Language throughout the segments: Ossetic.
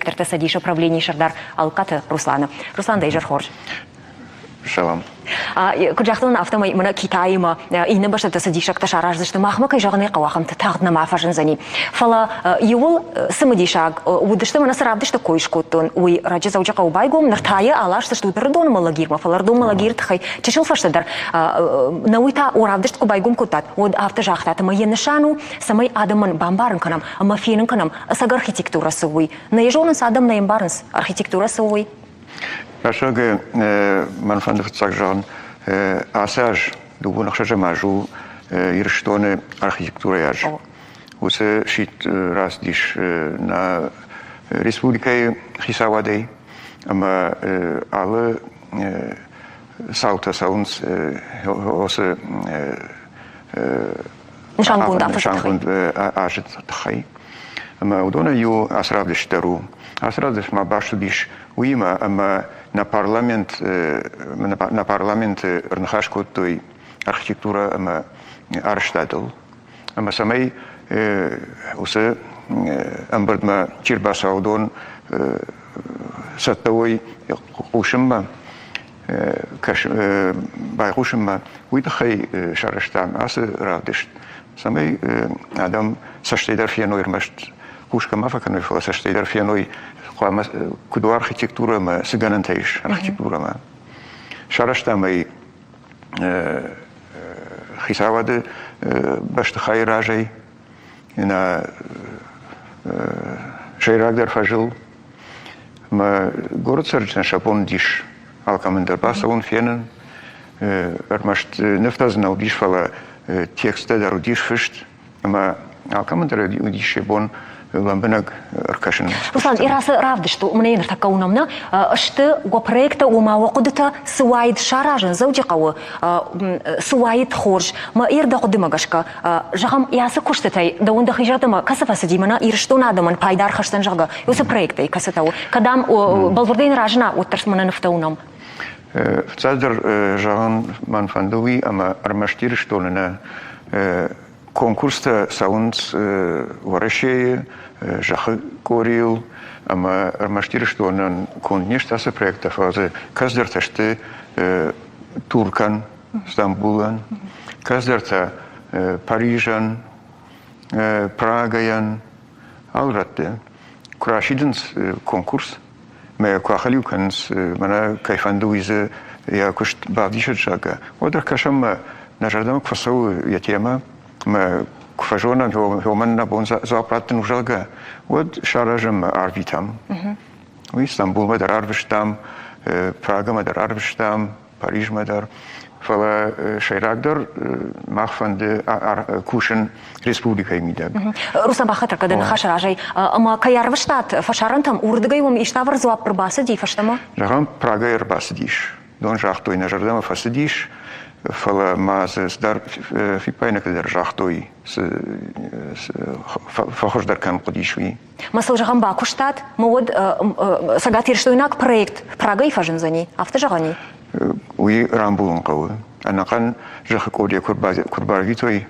Ӕртӕ Цӕдисы правленийы сӕрдар Алкъаты Русланы. Руслан, дӕ изӕр хорз. Салам. Куыд загътон, афтӕмӕй мӕнӕ Китаимӕ иннӕ бӕстӕты цӕдисӕгтӕ сараздзысты. Махмӕ кӕй зӕгъын ӕй хъӕуы, ахӕмты тагъд нӕма фӕзындзӕни. Фӕлӕ иууыл цымыдисаг уыдысты, мӕнӕ цы равдысты кой скодтон, уый раджы Дзӕуджыхъӕуы байгом, ныр та йӕ аласдзыстут Рдомы Малагирмӕ, фӕлӕ Рдомы Малагиры тыххӕй чысыл фӕстӕдӕр нӕ уый та равдыст куы байгом кодтат, уӕд афтӕ загътат, ӕмӕ йӕ нысан у, цӕмӕй адӕмӕн бамбарын кӕнӕм ӕмӕ фенын кӕнӕм, Ӕцӕг архитектурӕ цы у, уый. Нӕ зонынц адӕм, нӕ ӕмбарынц, архитектурӕ цы у, уый. Рӕсугъд мӕн фӕнды фыццаг зӕгъын, ацы аз дыууон ӕхсӕзӕм аз у Ирыстоны архитектурӕйы аз. Уыцы сидт рацыдис нӕ республикӕйы хицауадӕй ӕмӕ алы цаутӕ цӕуынц осы нысангонд азы нысангонд азы тыххӕй. Ӕмӕ уыдонӕй иу ацы равдыст дӕр у. Ацы равдыст ма баст уыдис уыимӕ, ӕмӕ нӕ парламент нӕ парламенты ӕрныхас кодтой архитектурӕ ӕмӕ арӕзтадыл. Ӕмӕ цӕмӕй уыцы ӕмбырдмӕ чи рбацӕуа, уыдон цӕттӕ уой хъусынмӕ. байхъусынмӕ, уый тыххӕй сарӕзтам ацы равдыст, цӕмӕй адӕм цӕстӕйдӕр феной ӕрмӕст хъусгӕ ма фӕкӕной, фӕлӕ цӕстӕйдӕр феной, хъуамӕ куыд у архитектурӕ ӕмӕ цы гӕнӕнтӕ ис архитектурӕмӕ. Сарӕзтам ӕй хицауады бӕстыхайы разӕй, Нӕ сӕйрагдӕр фӕзыл мӕ горы цӕрджытӕн сапон уыдис алкӕмӕн дӕр бацӕуын, фенын. Ӕрмӕст нывтӕ дзы нал уыдис, фӕлӕ тексттӕ дӕр уыдис фыст, ӕмӕ алкӕмӕн дӕр уыдис йӕ бон лӕмбынӕг ӕркӕсын. Руслан, Ирацы равдысты, уымӕ ныртӕккӕ уынӕм нӕ, сты уӕ проекттӕ, ома уӕ хъуыдытӕ цы уаид саразын Дзӕуджыхъӕуы, цы уаид хорз. Мӕ ирд дӕ хъуыдымӕ гӕсгӕ, Зӕгъӕм, йӕ ацы куыстытӕй дӕуӕн дӕхи зӕрдӕмӕ кӕцы фӕцыди, мӕнӕ Ирыстон адӕмӕн пайда ӕрхӕсдзӕн, зӕгъгӕ, уыцы проекттӕй кӕцытӕ у, кӕдӕм бӕлвырдӕй ныразына, уӕддӕр мӕнӕ нывтӕ уынӕм. Фыццагдӕр зӕгъын мӕн фӕнды уый, ӕмӕ ӕрмӕст Ирыстоны нӕ конкурстӕ цӕуынц Уӕрӕсейы, зӕххы къорийыл, ӕмӕ ӕрмӕст Ирыстонӕн конд не сты ацы проекттӕ, фӕлӕ дзы кӕцыдӕртӕ сты Туркӕн, Стамбулӕн, кӕддӕртӕ Парижӕн, Прагӕйӕн, алы рӕтты куы расидынц конкурс мӕ куы ахӕлиу кӕнынц, мӕнӕ кӕй фӕнды уый дзы йӕ куыст бавдисӕт, зӕгъгӕ, уӕд ӕркӕсӕм мӕ нӕ зӕрдӕмӕ куы фӕцӕуы йӕ темӕ, мӕ куы фӕзонӕн, уымӕн нӕ бон дзуапп раттын у, зӕгъгӕ, уӕд саразӕм мӕ арвитӕм. Уый Стамбулмӕ дӕр арвыстам, Прагӕмӕ дӕр арвыстам, Парижмӕ дӕр. Фӕлӕ сӕйрагдӕр мах фӕнды кусын республикӕйы мидӕг. Руса бахатыр кӕд ныхасы разӕй, ӕмӕ кӕй арвыстат фӕсарӕнтӕм, уырдыгӕй уым иставыр дзуапп ӕрбацыди фӕстӕмӕ? Зӕгъӕм, Прагӕ ӕрбацыдис. Дон загътой, нӕ зӕрдӕмӕ фӕцыдис, фӕлӕ ма дзы цыдӕр фиппаинӕгтӕ дӕр загътой, цы фӕхуыздӕр кӕм хъуыдис, уый. Мӕ сыл зӕгъӕм, бакуыстат, мы уӕд цӕгатирыстойнаг проект Прагӕй фӕзындзӕни, афтӕ зӕгъӕни? Уый рамбулын хъӕуы. Ӕнӕхъӕн зӕххы къодӕй куыд барвитой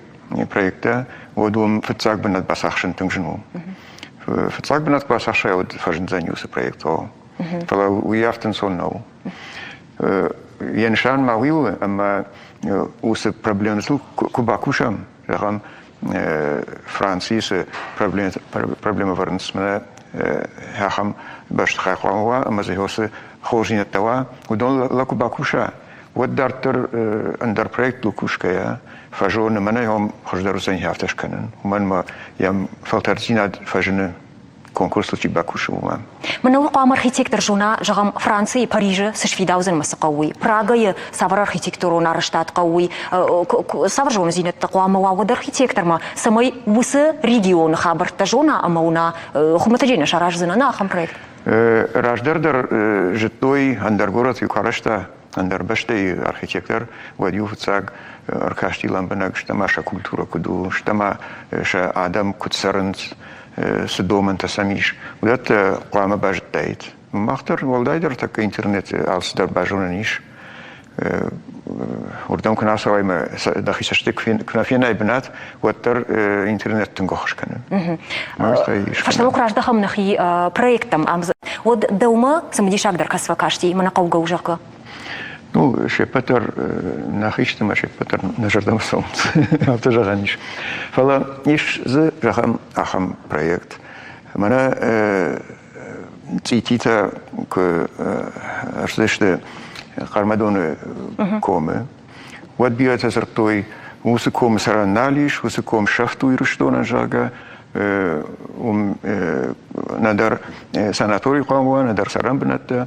проекттӕ, уӕд уым фыццаг бынат бацахсын тынг зын у. Фыццаг бынат куы бацахсай, уӕд фӕзындзӕни уыцы проектыл. Фӕлӕ уый ӕртынцон нӕу. Йӕ нысан ма уый у, ӕмӕ уыцы проблемӕтыл куы бакусӕм, зӕгъӕм, Францийы цы проблемӕвӕрынцмӕ ахӕм бӕстыхай хъуамӕ уа ӕмӕ дзы уыцы хорздзинӕдтӕ уа, уыдон лӕ куы бакуса, уӕд дарддӕр ӕндӕр проекттыл кусгӕйӕ фӕзоны, мӕнӕ йӕм хуыздӕр уыдзӕни афтӕ скӕнын, уымӕн мӕ йӕм фӕлтӕрддзинад фӕзыны. конкурсыл чи бакусы, уымӕн. Мӕнӕ уый хъуамӕ архитектор зона, зӕгъӕм, Францийы, Парижы цы сфидаудзӕн мӕ цы хъӕуы, Прагайы цавӕр архитектурон арӕзтад хъӕуы, цавӕр зонындзинӕдтӕ хъуамӕ уа уӕд архитектормӕ, цӕмӕй уыцы регионы хабӕрттӕ зона ӕмӕ уына, хуымӕтӕджӕй нӕ сараздзынӕн ахӕм проект. Раздӕр дӕр зыдтой, ӕндӕр горӕт куы арӕзта, Ӕндӕр бӕстӕйы архитектор уӕд иу фыццаг ӕркасти лӕмбынӕг, стӕ ма сӕ культурӕ куыд у, стӕ ма сӕ адӕм куыд цӕрынц, цы домӕнтӕ сӕм ис, уыдӕттӕ хъуамӕ базыдтаид. Мах дӕр уӕлдайдӕр тӕккӕ интернеты алцыдӕр базонӕн ис. уырдӕм куы нӕ ацӕуай мӕ дӕхи цӕстӕй куы нӕ фенай бынат, уӕддӕр интернет тынг ӕххуыс кӕны. Фӕстӕмӕ куы раздӕхӕм нӕхи проекттӕм ӕмдзы, уӕд дӕумӕ цымыдисагдӕр кӕс фӕкасти, мӕнӕ хъӕугӕ у, зӕгъгӕ? Ну, се ппӕт дӕр нӕхи сты мӕ се ппӕт дӕр нӕ зӕрдӕмӕ цӕуынц. Афтӕ зӕгъӕн ис. Фӕлӕ ис дзы зӕгъӕм ахӕм проект. Мӕнӕ цъититӕ куы ӕрцыдысты Хъӕрмӕдоны комы, Уӕд бирӕтӕ дзырдтой, уыцы комы цӕрӕн нал ис, уыцы ком сӕфт у Ирыстонӕн, зӕгъгӕ, уым нӕдӕр санатори хъуамӕ уа, нӕдӕр цӕрӕн бынӕттӕ.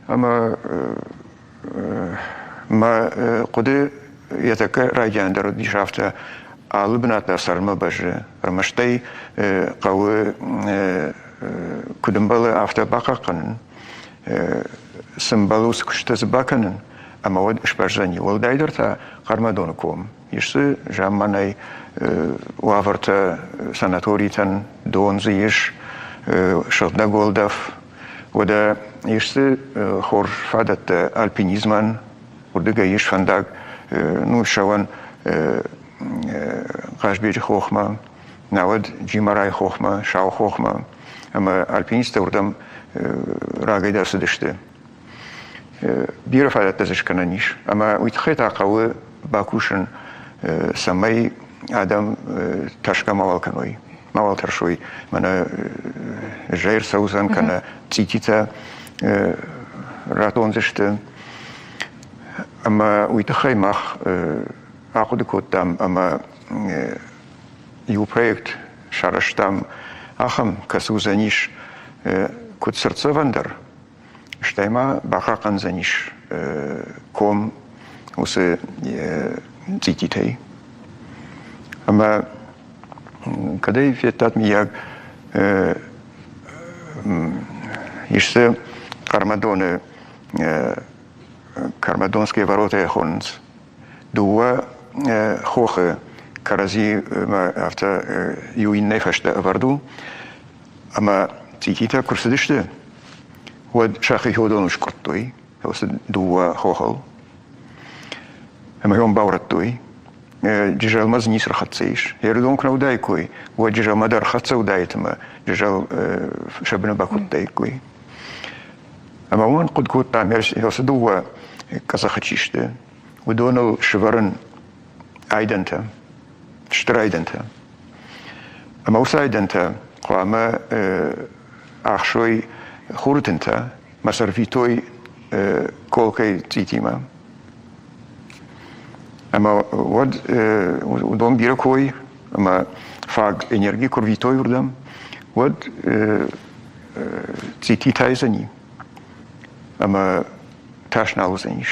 Ӕмӕ мӕ хъуыды йӕ тӕккӕ райдианы дӕр уыдис афтӕ, алы бынат дӕр цӕрынмӕ бӕззы. Ӕрмӕст ӕй хъӕуы куыд ӕмбӕлы, афтӕ бахъахъхъӕнын. Цы мбӕлы, уыцы куыстытӕ дзы бакӕнын. Ӕмӕ уӕд сбӕздзӕни уӕлдайдӕр та Хъӕрмӕдоны ком. Ис дзы замманай уавӕртӕ, санаторитӕн дон дзы ис, сыгъдӕг уӕлдӕф. Уӕдӕ ис дзы хорз фадӕттӕ альпинизмӕн, уырдыгӕй ис фӕндаг Нурсӕуӕн Хъазбеджы хохмӕ, науӕд Джимарайы хохмӕ, Сау хохмӕ. Ӕмӕ альпинисттӕ уырдӕм рагӕй дӕр цыдысты. бирӕ фадӕттӕ дзы скӕнӕн ис. Ӕмӕ уый тыххӕй та хъӕуы бакусын, цӕмӕй адӕм тӕрсгӕ мауал кӕной, мауал тӕрсой, мӕнӕ зӕй ӕрцӕудзӕн, кӕнӕ цъититӕ ратондзысты. Ӕмӕ уый тыххӕй мах ахъуыды кодтам ӕмӕ иу проект сарӕзтам, ахӕм, кӕцы уыдзӕнис куыд сӕрддзӕвӕн дӕр, стӕй ма бахъахъхъӕндзӕнис ком уыцы цъититӕй. Ӕмӕ кӕд ӕй федтат, миййаг, иссы Кармадоны Кармадонские ворота хонынц. Дыууӕ хохы кӕрӕдзимӕ афтӕ иу иннӕй фӕстӕ ӕвӕрд у, Ӕмӕ цъититӕ куы рцыдысты, уӕд сӕхи феодону скъуырдтой, просто дыууӕ хохыл, ӕмӕ йӕм баурӕдтой. Джызӕлмӕ дзы ницы рхӕццӕ ис. Ердон куы нӕ уыдаиккой, уӕд Джызӕлмӕ дӕр хӕццӕ уыдаид ӕмӕ Джызӕл сӕ быны бакодтаиккой. Ӕмӕ уымӕн хъуыд кодта, ӕрцы дыууӕ къӕдзӕхы чи сты, уыдоныл сывӕрын айдӕнтӕ, стыр айдӕнтӕ. Ӕмӕ уыцы айдӕнтӕ хъуамӕ ӕхсой хуры тынтӕ мӕ сӕрфитой колкӕй цъитимӕ. Ӕмӕ уӕд уыдон бирӕ кой ӕмӕ фаг энерги куы рвитой уырдӕм, уӕд цъити тайдзӕни ӕмӕ тас нал уыдзӕнис.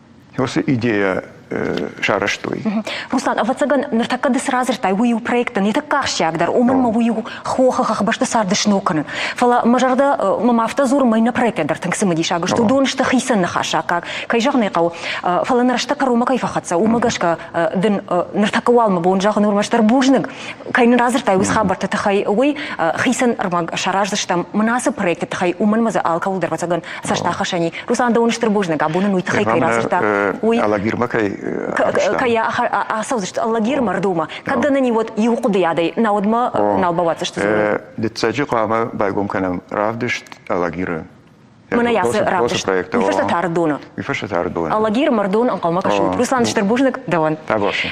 уыцы идея сарӕзтой. Руслан, ӕвӕццӕгӕн, ныртӕккӕ ды цы радзырдтай, уый у проектӕн йе тӕккӕ ахсджиагдӕр, уымӕн ӕмӕ уый у хохы хӕхбӕсты царды сног кӕнын. Фӕлӕ мӕ зӕрдӕ мӕм афтӕ дзуры, мӕ иннӕ проекттӕ дӕр тынг цымыдисаг сты, уыдон сты хицӕн ныхасаккаг, кӕй зӕгъын ӕй хъӕуы, фӕлӕ нӕ рӕстӕг кӕронмӕ кӕй фӕхӕццӕ, уымӕ гӕсгӕ дын ныртӕккӕ уал мӕ бон зӕгъын уырмӕстдӕр бузныг, кӕй нын радзырдтай уыцы хабӕртты тыххӕй, уый хицӕн ӕрмӕг сараздзыстӕм мын ацы проектты тыххӕй, уымӕн мӕ дзы алкӕуыл дӕр ӕвӕццӕгӕн цӕстахасӕни. Руслан дӕ уын стыр бузныг, абоны уый тыххӕй кӕй радзырдта. Уый Алагирмӕ кӕй кӕй ацӕудзысты Алагирмӕ рдомӕ. Кӕд дӕ нӕ вот иу хъуыдыйадӕй, науӕдмӕ нал бауадздзысты. Дыццӕджы хъуамӕ байгом кӕнӕм равдыст Алагиры Мӕнӕ ацы равдыст. Уый фӕстӕ та Рдоны. Уый фӕстӕ та Рдоны. Алагиры мӕрдон ӕнхъӕлмӕ кӕсут. Руслан, стыр бузныг дӕуӕн. Таборшин.